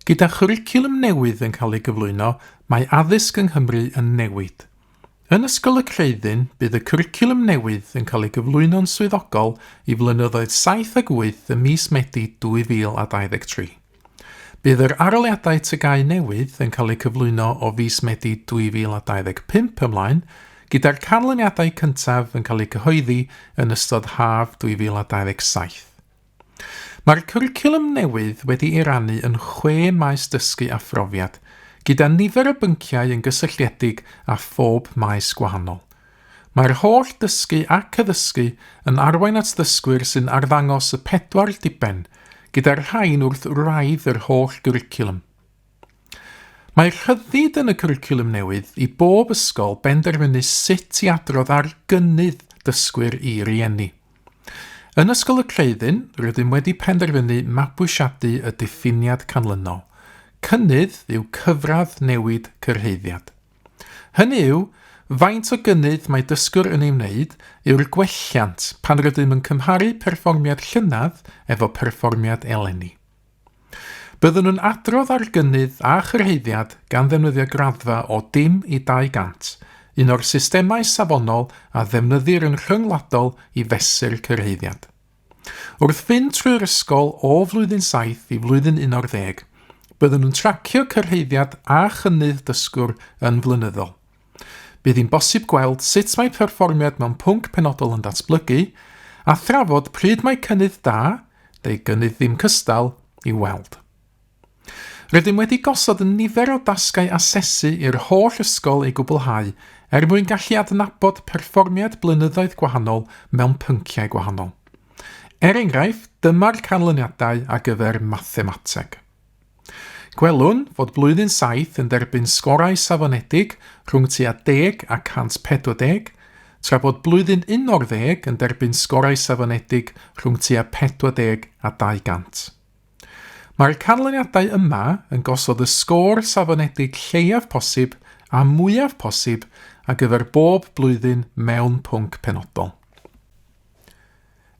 Gyda chwricwlwm newydd yn cael ei gyflwyno, mae addysg yng Nghymru yn newid. Yn Ysgol y Creuddyn, bydd y cwricwlwm newydd yn cael ei gyflwyno'n swyddogol i flynyddoedd 7 ac 8 ym mis Medi 2023. Bydd yr aroliadau TGAU newydd yn cael eu cyflwyno o fis Medi 2025 ymlaen, gyda'r canlyniadau cyntaf yn cael eu cyhoeddi yn ystod haf 2027. Mae'r cwricwlwm newydd wedi ei rannu yn chwe maes dysgu a phrofiad, gyda nifer o bynciau yn gysylltiedig â phob maes gwahanol. Mae'r holl ddysgu ac addysgu yn arwain at ddysgwyr sy'n arddangos y pedwar diben, gyda'r rhain wrth wraidd yr holl gwricwlwm. Mae rhyddid yn y cwricwlwm newydd i bob ysgol benderfynu sut i adrodd ar gynnydd dysgwyr i rieni. Yn Ysgol y Creuddyn, rydym wedi penderfynu mabwysiadu y diffiniad canlynol. Cynnydd yw cyfradd newid cyrhaeddiad. Hynny yw, faint o gynnydd mae dysgwr yn ei wneud yw'r gwelliant pan rydym yn cymharu perfformiad llynedd efo perfformiad eleni. Byddwn yn adrodd ar gynnydd a chyrhaeddiad gan ddefnyddio graddfa o dim i 200, un o'r systemau safonol a ddefnyddir yn rhyngwladol i fesur cyrhaeddiad. Wrth fynd trwy'r ysgol o flwyddyn 7 i flwyddyn 11, byddwn yn tracio cyrhaeddiad a chynnydd dysgwr yn flynyddol. Bydd hi'n bosib gweld sut mae perfformiad mewn pwnc penodol yn datblygu, a thrafod pryd mae cynnydd da, neu gynnydd ddim cystal, i'w weld. Rydym wedi gosod yn nifer o dasgau asesu i'r holl ysgol ei gwblhau er mwyn gallu adnabod perfformiad blynyddoedd gwahanol mewn pynciau gwahanol. Er enghraifft, dyma'r canlyniadau ar gyfer mathemateg. Gwelwn fod blwyddyn saith yn derbyn sgorau safonedig rhwng tua deg a 140, tra bod blwyddyn unarddeg yn derbyn sgorau safonedig rhwng tua 40 a 200. Mae'r canlyniadau yma yn gosod y sgôr safonedig lleiaf posib a mwyaf posib ar gyfer bob blwyddyn mewn pwnc penodol.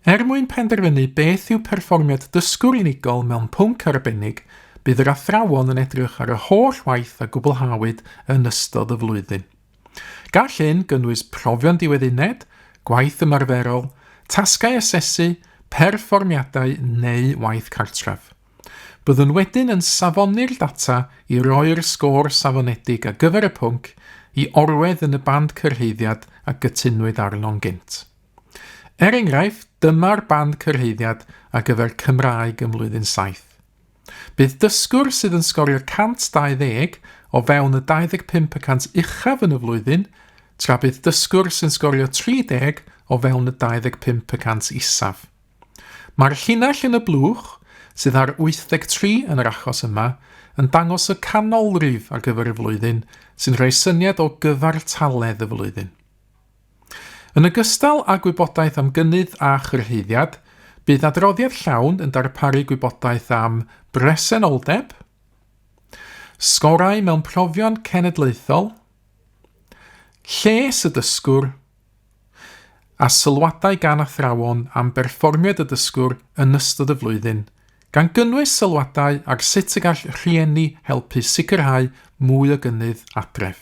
Er mwyn penderfynu beth yw perfformiad dysgwr unigol mewn pwnc arbennig, bydd yr athrawon yn edrych ar y holl waith a gwblhawyd yn ystod y flwyddyn. Gall hyn gynnwys profion diwedd uned, gwaith ymarferol, tasgau asesu, perfformiadau neu waith cartref. Byddwn wedyn yn safoni'r data i roi'r sgôr safonedig ar gyfer y pwnc i orwedd yn y band cyrhaeddiad a gytunwyd arno'n gynt. Er enghraifft, dyma'r band cyrhaeddiad ar gyfer Cymraeg ym Mlwyddyn Saith. Bydd dysgwr sydd yn sgorio 120 o fewn y 25 y cant uchaf yn y flwyddyn, tra bydd dysgwr sy'n sgorio 30 o fewn y 25 y cant isaf. Mae'r llinell yn y blwch, sydd ar 83 yn yr achos yma, yn dangos y canolrif ar gyfer y flwyddyn sy'n rhoi syniad o gyfartaledd y flwyddyn. Yn ogystal â gwybodaeth am gynnydd a chyrhaeddiad, bydd adroddiad llawn yn darparu gwybodaeth am bresenoldeb, sgorau mewn profion cenedlaethol, lles y dysgwr, a sylwadau gan athrawon am berfformiad y dysgwr yn ystod y flwyddyn, gan gynnwys sylwadau ar sut y gall rhieni helpu sicrhau mwy o gynnydd adref.